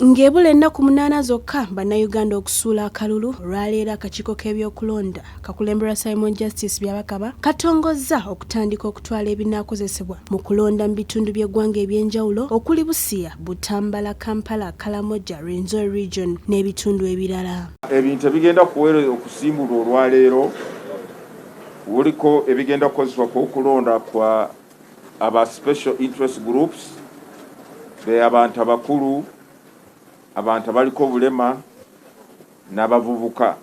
Ng'ebula ennaku munaana zokka bannayuganda okusuula akalulu olwaleero akakiiko k'ebyokulonda kakulemberwa Simon Justice Byabakaba katongozza okutandika okutwala ebinaakozesebwa mu kulonda mu bitundu by'eggwanga eby'enjawulo okuli Busia, Butambala, Kampala, Kalamoja, Rwenzori region n'ebitundu ebirala. Ebintu ebigenda kuwera okusimbulwa olwaleero kuliko ebigenda kukozesebwa ku okulonda kwa Aba special interest groups be abantu abakulu, abantu abaliko obulema n'abavubuka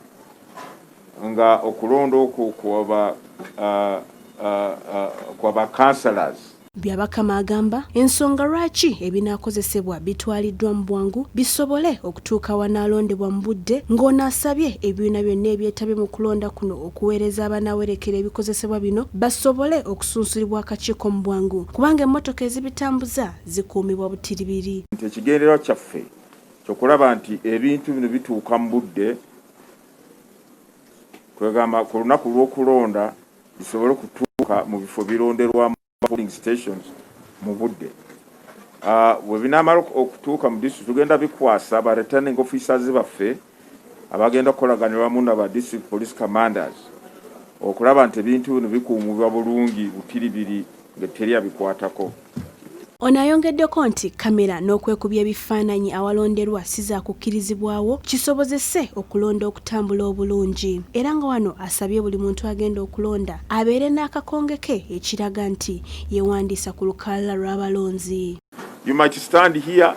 nga okulonda okwo kwaba uh, uh, uh, kwaba councillors Byabakama agamba ensonga lwaki ebinaakozesebwa bitwaliddwa mu bwangu bisobole okutuuka wanaalondebwa mu budde ng'ono asabye ebibiina byonna ebyetabye mu kulonda kuno okuweereza abanaawerekera ebikozesebwa bino basobole okusunsulibwa akakiiko mu bwangu kubanga emmotoka ezibitambuza zikuumibwa butiribiri. Nti ekigendererwa kyaffe kyokulaba nti ebintu bino bituuka mu budde kwegamba ku lunaku lw'okulonda bisobole okutuuka mu bifo bironderwamu polling stations mu budde ah, bwe binaamala okutuuka mu disitulikiti tugenda bikwasa ba returning officers baffe abagenda okukolaganira wamu na ba district police commanders okulaba nti ebintu bino bikuumibwa bulungi butiribiri nga teri abikwatako. Ono ayongeddeko nti kkamera n'okwekubya ebifaananyi awalonderwa si zaakukkirizibwawo kisobozese okulonda okutambula obulungi era nga wano asabye buli muntu agenda okulonda abeere n'akakonge ke ekiraga nti yewandiisa ku lukalala lw'abalonzi. You might stand here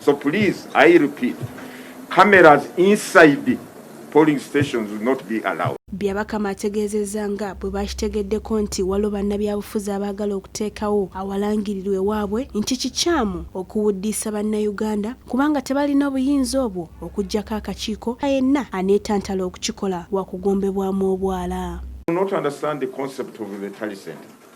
So please, I repeat, cameras inside polling stations will not be allowed. Byabakama ategeezezza nga bwe baakitegeddeko nti waliwo bannabyabufuzi abaagala okuteekawo awalangirirwa ewaabwe nti kikyamu okuwuddiisa bannayuganda kubanga tebalina obuyinza obwo okuggyako akakiiko yenna aneetantala okukikola wakugombebwamu obwala.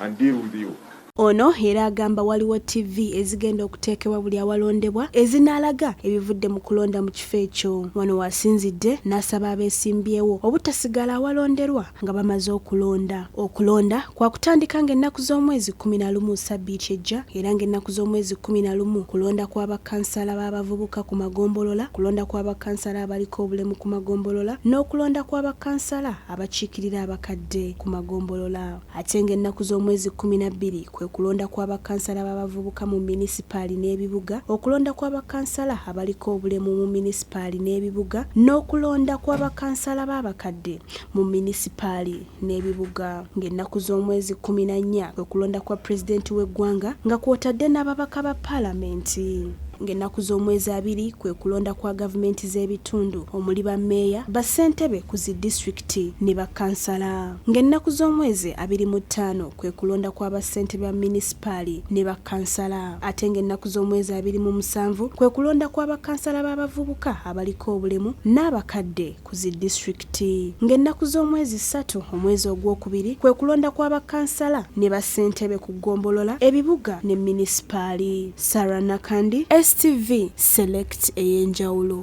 and deal with you. Ono era agamba waliwo TV ezigenda okuteekebwa buli awalondebwa ezinaalaga ebivudde mu kulonda mu kifo ekyo. Wano wasinzidde n'asaba abeesimbyewo obutasigala awalonderwa nga bamaze okulonda. Okulonda kwakutandika ng'ennaku z'omwezi kkumi na lumu ssabbiiti ejja era ng'ennaku z'omwezi kkumi na lumu kulonda kwa bakkansala b'abavubuka ku magombolola, kulonda kwa bakkansala abaliko obulemu ku magombolola n'okulonda kwa bakkansala abakiikirira abakadde ku magombolola. Ate ng'ennaku z'omwezi kkuminabbiri kwe kulonda kwa bakansala b'abavubuka mu minisipaali n'ebibuga, okulonda kwa bakansala abaliko obulemu mu minisipaali n'ebibuga n'okulonda kwa bakansala b'abakadde mu minisipaali n'ebibuga ng'ennaku z'omwezi kkuminannya kwe kulonda kwa Pulezidenti w'eggwanga nga kwotadde n'ababaka ba Paalamenti. Ng'ennaku z'omwezi abiri kwe kulonda kwa gavumenti z'ebitundu omuli ba meeya, ba ssentebe ku zi disitulikiti ne bakansala. ng'ennaku z'omwezi abiri mu ttaano kwe kulonda kwa ba ssentebe ba minisipaali ne ba kansala ate ng'ennaku z'omwezi abiri mu musanvu kwe kulonda kwa ba kansala b'abavubuka abaliko obulemu n'abakadde ku zi disitulikiti ng'ennaku z'omwezi ssatu omwezi ogwokubiri kwe kulonda kwa ba kansala ne ba ssentebe ku ggombolola ebibuga ne minisipaali. Sarah Nakandi, STV, Select ey'enjawulo.